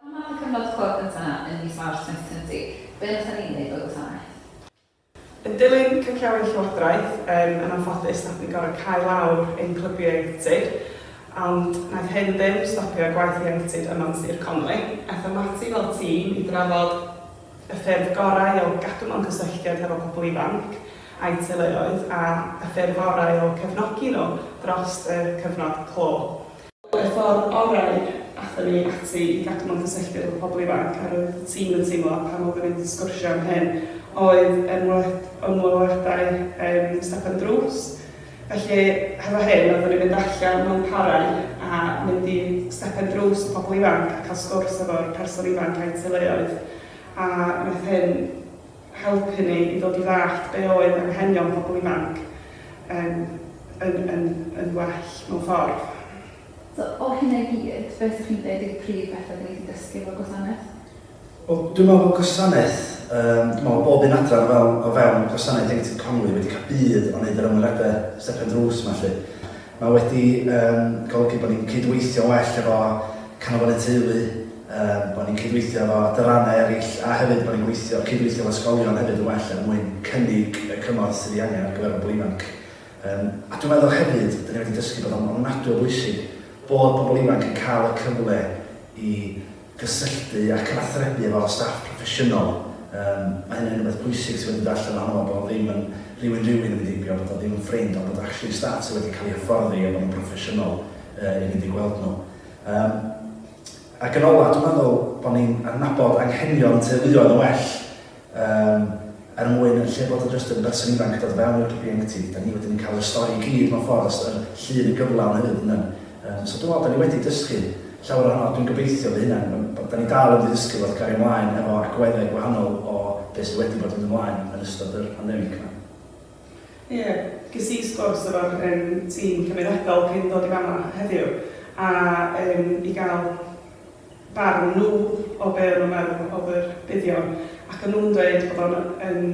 Pan ddaeth y cyfnod clo cynta 'na yn mis Mawrth 2020, be nathon ni neud fel gwasanaeth? Yn dilyn canllawi'r Llywodraeth, yn anffodus nathon ni gor'o' cau lawr ein clybiau ieuenctid, ond naeth hyn ddim stopio gwaith ieuenctid yma'n Sir Conwy. Aethom ati fel tîm i drafod, y ffyrdd gorau o gadw mewn cysylltiad hefo pobl ifanc a'u teuluoedd a y ffyrdd orau o cefnogi nhw dros y cyfnod clo. Y ffordd orau aethon ni ati i gadw mewn cysylltiad efo pobl ifanc, a roedd y tîm yn teimlo pan oedden ni'n sgwrsio am hyn, oedd ymweliadau yn step ar y drws, Felly, hefo hyn, oeddwn i'n mynd allan mewn parau a mynd i stepen drws y pobl ifanc a cael sgwrs efo'r person ifanc a'i teuluoedd, a wnaeth hyn helpu ni i ddod i ddallt be oedd anghenion pobl ifanc yn yn yn yn well mewn ffordd. So, o hynna i gyd, beth 'sech chi'n deud yw prif beth oeddwn i 'di dysgu efo'r gwasanaeth? Wel, dwi'n meddwl bod gwasanaeth, yym, dwi'n meddwl bob un adran o fewn, o fewn gwasanaeth Ieuenctid Conwy wedi cael budd o wneud yr ymweliadau stepen drws yma lly. Mae wedi um, golygu bod ni'n cydweithio well efo canolfannau teulu, um, bod ni'n cydweithio efo adrannau eraill a hefyd bod ni'n gweithio, cydweithio efo ysgolion hefyd yn well er mwyn cynnig y cymorth sydd ei angen ar gyfer pobl ifanc. Um, a dwi'n meddwl hefyd, dyn ni wedi dysgu bod o'n ofnadwy o bwysig bod pobl ifanc yn cael y cyfle i cysylltu ac athrebu efo'r staff proffesiynol, yym, ma' hynna'n rwbeth pwysig sydd wedi dod allan ohono fo, bod o ddim yn rywun rywun yn mynd heibio, bod o ddim yn ffrind, ond bod actually staff sydd wedi cael eu hyfforddi a bod nhw'n broffesiynol yy i fynd i gweld nhw. Yym, ac yn ola, dwi'n meddwl bod ni'n adnabod anghenion teuluoedd yn well, Yym, er mwyn, yn lle bod o jyst yn berson ifanc yn dod o fewn Wikipedia Ieuenctid, da ni wedyn yn cael yr stori i gyd mewn ffordd, yr llun yn gyflawn hefyd yndan? Yym, so dwi'n meddwl da ni wedi dysgu llawer ohono fo, dwi'n gobeithio fy hunan, yym, da ni dal yn mynd i ddysgu fo wrth gario mlaen efo agweddau gwahanol o be sydd wedi bod yn mynd ymlaen yn ystod yr pandemig 'ma. Ie, ges i sgwrs efo'r yym tîm cymunedol cyn dod i fama heddiw, a yym i gael barn nhw o be' o'n nhw'n meddwl o'dd yr buddion, ac o'n nhw'n dweud bod o'n yn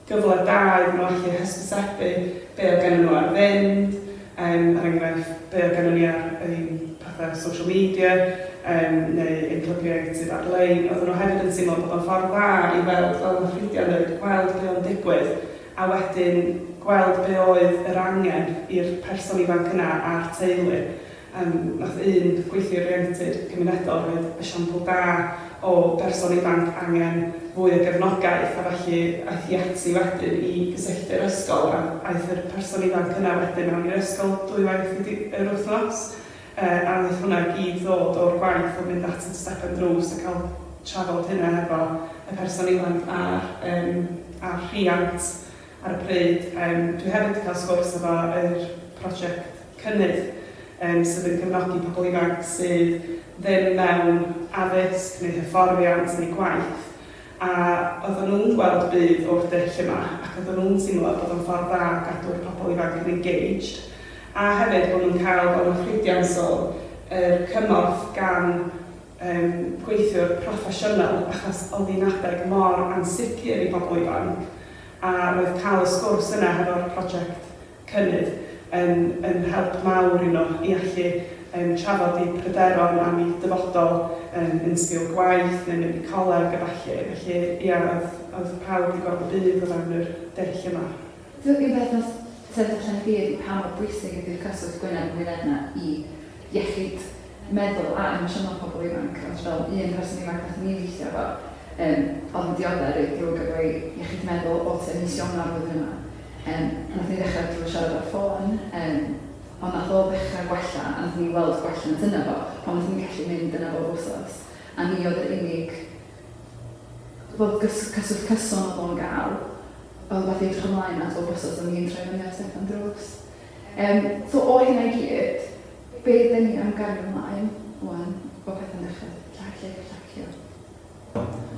gyfle da iddyn nhw allu hysbysebu be' oedd gennyn nhw ar fynd, yym er enghraifft be' oedd gennyn ni ar ein pethe social media yym neu ein clybiau ieuenctid ar-lein, oedden nhw hefyd yn teimlo bod o'n ffordd dda i weld, fel ma' ffrindiau'n dweud, gweld be' o'n digwydd, a wedyn gweld be' oedd yr angen i'r person ifanc yna a'r teulu. Yym, wnaeth un gweithlu oriented cymunedol roid esiampl da o berson ifanc angen fwy o gefnogaeth a felly aeth hi ati wedyn i gysylltu â'r ysgol a aeth yr person ifanc yna wedyn mewn i'r ysgol dwywaith y yr wythnos yy a wnaeth hwnna gyd ddod o'r gwaith o fynd at y stepen drws a cael trafod hynna hefo y person ifanc a'r yym a'r rhiant. ar y pryd. Yym dwi hefyd 'di cael sgwrs efo yr prosiect Cynnydd yym sydd yn cefnogi pobl ifanc sydd ddim mewn addysg neu hyfforddiant neu gwaith a oedden nhw'n gweld budd o'r dull yma ac oedden nhw'n teimlo bod o'n ffordd dda o gadw'r pobl ifanc yn engaged a hefyd bod nhw'n cael fel ma' Frida yn sôn yr cymorth gan yn gweithiwr proffesiynol achos oedd hi'n adeg mor ansicr i bobl ifanc a roedd cael y sgwrs yna hefo'r project cynnydd yn yn help mawr i nhw i allu yym trafod eu pryderon am eu dyfodol yym yn sgil gwaith neu mynd i coleg a ballu felly ia oedd oedd pawb 'di gweld y byd o fewn yr dull yma. Dw i'n berthynas Sefydliad Llechen y Byd i pa mor bwysig ydi'r cyswllt gwyneb yn wyneb 'na i iechyd meddwl a emosiynol pobl ifanc, ond fel un person ifanc nathon ni weithio efo yym o'dd yn diodde' reit ddrwg efo'i iechyd meddwl o tua mis Ionawr flwyddyn yma yym nathon ni ddechra drw' siarad ar ffôn yym ond nath o ddechra gwella a nathon ni weld gwelliant yno fo pan nathon ni gallu mynd yna bob wsos a ni o'dd yr unig fel gys- cyswllt cyson o'dd o'n ga'l fel rhywbeth i edrych ymlaen at bob wsos o'n i'n troi fyny a Steffan drws. Um, so o hynna i gyd, be dyn ni am gario ymlaen wan o pethau'n dechrau llacio, llacio.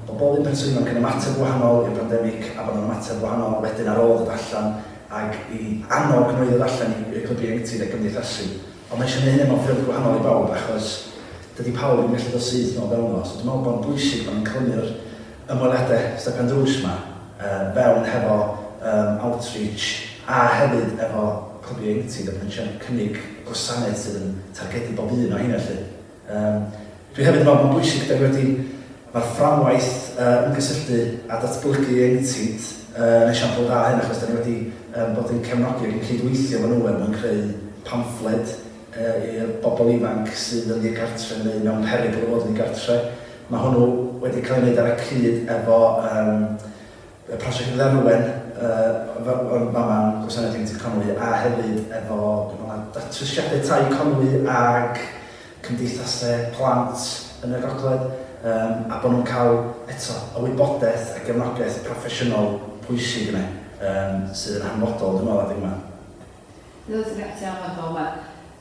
Bod bob un person yn ymateb wahanol i'r pandemig a bod yn ymateb wahanol wedyn ar ôl dod allan ac i annog nhw i ddod allan i'r clybu ieuenctid a gymdeithasu. Ond mae eisiau gwneud hynny mewn ffyrdd gwahanol i bawb achos dydy pawb yn gallu dod syth nôl fewn o. So dwi'n meddwl bod yn bwysig bod ni'n clymu'r ymweliadau Stefan Drws 'ma yn fewn hefo yym Outreach a hefyd efo Clwb Ieuenctid a bod ni'n trio cynnig gwasanaeth sydd yn targedu bob un o heina 'lly. Yym dwi hefyd yn meddwl mae'n bwysig 'da ni wedi mae'r fframwaith yy ymgysylltu a datblygu ieuenctid yy yn esiampl dda o hyn achos 'da ni wedi yym bod yn cefnogi ac yn cydweithio efo nhw er mwyn creu pamffled yy i'r bobl ifanc sydd yn ddigartre neu mewn perygl o fod yn ddigartre Mae hwnnw wedi cael ei wneud ar y cyd efo um, y prosiect gyda Rwen, uh, o'n fama'n Gwasanaeth Ieuenctid Conwy, a hefyd efo datrysiadau tai Conwy ag cymdeithasau plant yn y gogledd, um, a bod nhw'n cael eto y wybodaeth a gefnogaeth proffesiynol pwysig yna, um, sydd yn hanfodol, dwi'n meddwl, adeg yma. Dwi'n meddwl ti'n gallu anfodol yma.